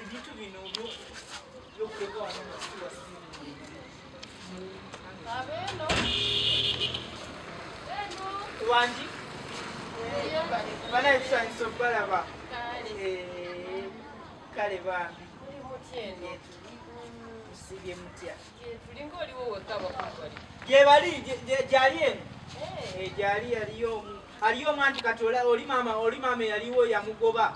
ebintu bino byokuleka wano wangi banaye tusanyisa okubalaba kale bambi tusibye mutya gyebali gyali eno eh. Eh, gyali yaliyo omu aliyo omu anti kati oli maama oli maama eyaliwo yamugoba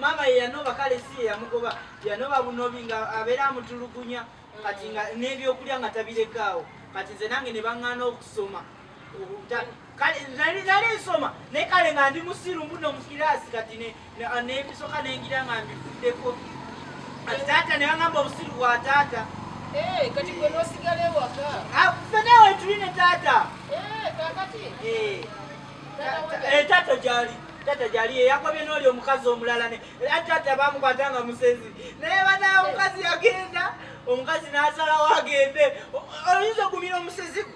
maama yeyanoba kale si yeyamugoba yanoba bunobi nga abeera amutulugunya kati nga mm. n'ebyokulya nga tabirekaawo kati nze nange ne baŋŋaana okusoma kale nali nali nsoma naye kale nga ndi musiru mbuno mu kiraasi kati n'ebisoka nengira nga mbivuddeko kati taata ne bangamba obusiru bwa taata eh, kati gwe nosigala ewaka ah, fe nawe tuli ne taata eh, kakati eh, taata gyali tata gyali eyakobye n'oli omukazi omulala ne tata bamukwata nga musezi naye banaye omukazi yagenda omukazi n'asalawo agende oyinza ogumira omusezi gwe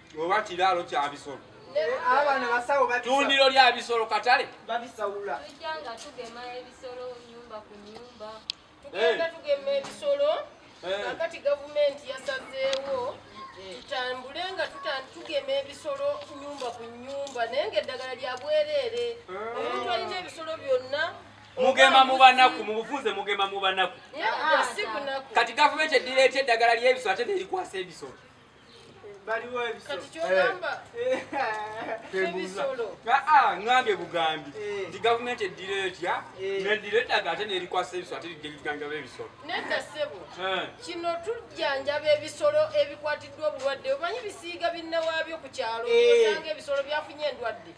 oba kiraalo kya bisolo tundiro lya bisolo katale babisaula tujjanga tugema ebisolo nyumba ku nyumba tugenda tugema ebisolo kakati gavumenti yasazeewo tutambule nga tugema ebisolo nyumba ku nyumba naye nga eddagala lya bwereere omuntu alina ebisolo byonna mugema mubanaku mubufunze mugema mubanaku kati gavumenti edireeta eddagala lyebisolo ate nerikwasa ebisolo baliwo ebisoangambye bugambi nti gavumenti eddira etya nedira eddaga ate nerikwasa ebisolo ate lijanjaba ebisolo nedda sebo kino tujanjaba ebisolo ebikwatiddwa obulwadde omanyi bisiiga binnawaabyo ku kyalo osanga ebisolo byafunye endwadde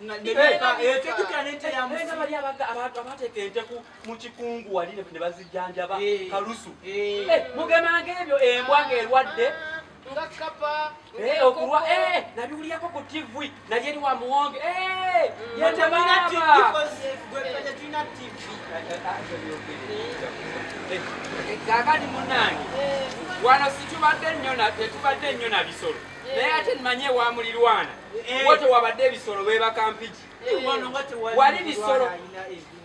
ekyo kitya nente yamusi abateeka enteku mukikungu wali nebazijjanjaba eh. kalusu eh. Eh, mugemanga ebyo embwa ngaerwadde okulwa nabiwuliyako ku tv naye eri wa muwonge kakati munange wano situbadde nyo tetubadde nnyo na bisolo naye ate nimanyi ewamulirwana wo tewabadde ebisolo bebakampiki wali bisolo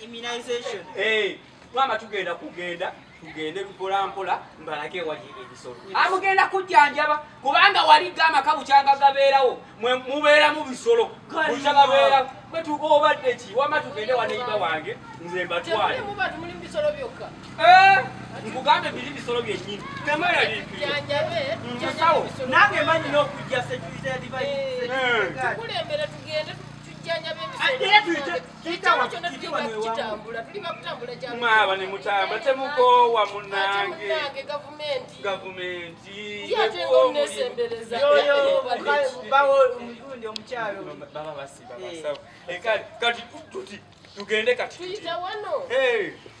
immunization eh mama tugenda kugenda tugende mpola mpola mbalage ewali ebisolo amugenda kujjanjaba kubanga wali gamba kabukyanga gabeerawo mubeera mu bisolo bukyagabeera kwetuuka obadde ki wama tugende waneiba wange nze mbatwale eh, nkugambe biri bisolo byenyini temayalimusawo nange manyi n'okujja security ya divine eh. mwaaba ne mutamba temukoowa munange gavumenti kati tuti tugende kati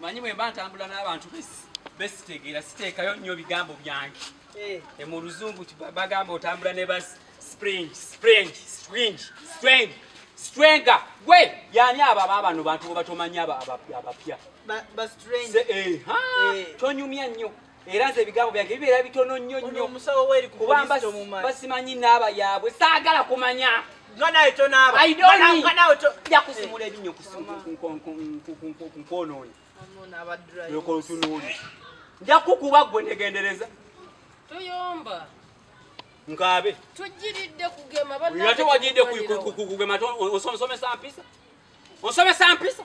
manyi bwemba ntambula n'abantu besitegeera siteekayo nnyo bigambo byange eh. e mu luzungu bagamba otambula ne ba spring spring spring spring strenga gwe yani abo ababano bantu bobatomanyi abapya eh, eh. tonyumya nnyo era nze ebigambo byange bibeera bitono nnyo nnyo kuba basimanyi naaba yaabwe saagala kumanya jakusimula ebinyo kunkonooni nja kukuba gwe negendereza tuyomba nkaabe tujiridde kugema ate wajiridde kugema osomesa mpisa osomesa mpisa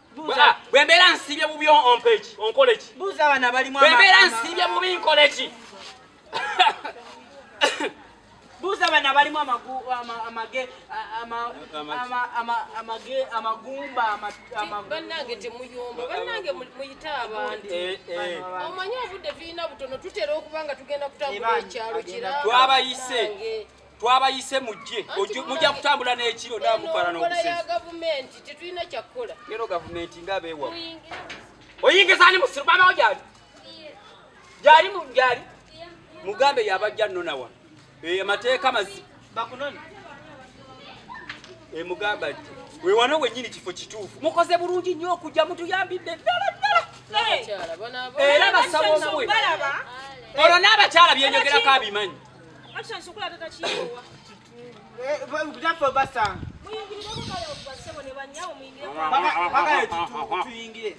bwembeera nsiibye bubi ompeki onkoleki bwembeera nsiibye bubi nkoleki buuza bano abalimu amagumbabanange temuyomba banange muyite abandi eh, eh. omanyi obudde tulina butono tutera okuba nga tugenda kutambula ekyalo kirawabayise twabayise mujje mujja kutambula n'ekiro namukwala n'okuseero gavumenti nga beewa oyingiza ani musiru bamawo gyali gyali gyali mugambe yabajja nona wano eyo amateeka mazi bakunona emugamba eh, nti wewano wenyini kifo kituufu mukoze bulungi nnyo okujja mutuyambidde ddala ddala era basaba omuwe olwo n'abakyala byenyogerako abimanyi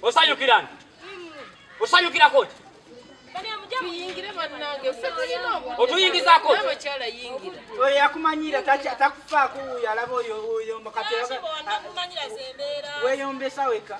osanyukira nti osanyukira koti otuyingizako oyo yakumanyira takufaako wuyo alaba oyo oyo mukati weyombesa weka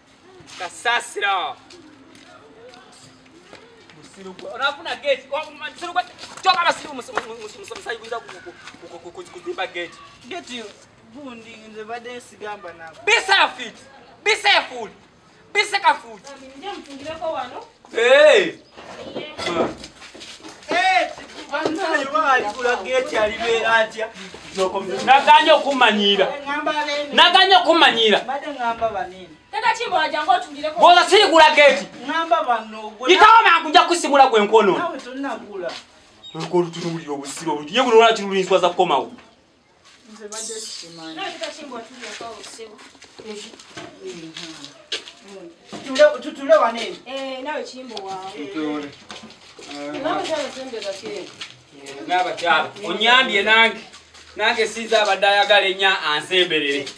kasasira onafuna gate kyoka abasirimu musayi kuyita kuzimba gate gate gundi nze badde nsigamba nabo be safe be safe be safe Hey! naganye okumanyiira naganye okumanyiira bwoza sirigula geti yitawo mangu nja kusimula gwe nkwonoona olutulowulira obusiro oluye buno lwaki lulinswaza kukomawo nze badde sikimanyi tutule wanene eh, nawe kimbo wawe nabakyala onyambye nange nange sinza abadde ayagala enya ansemberere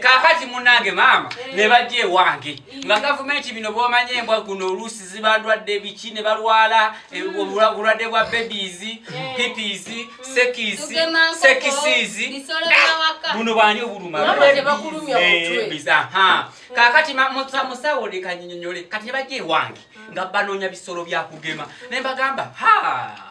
kakati munange maama eh. nebajja ewange eh. nga gavumenti bino bwomanya embwa guno oluusi zibandwadde biki ne balwala eh, hmm. obulwadde bwa babies pipis hmm. sekis sekisizi ah! buno bwani obulumabizaha kakati musawo lekanyinyonyole kati nebajja ewange hmm. nga banoonya bisolo byakugema nembagamba haa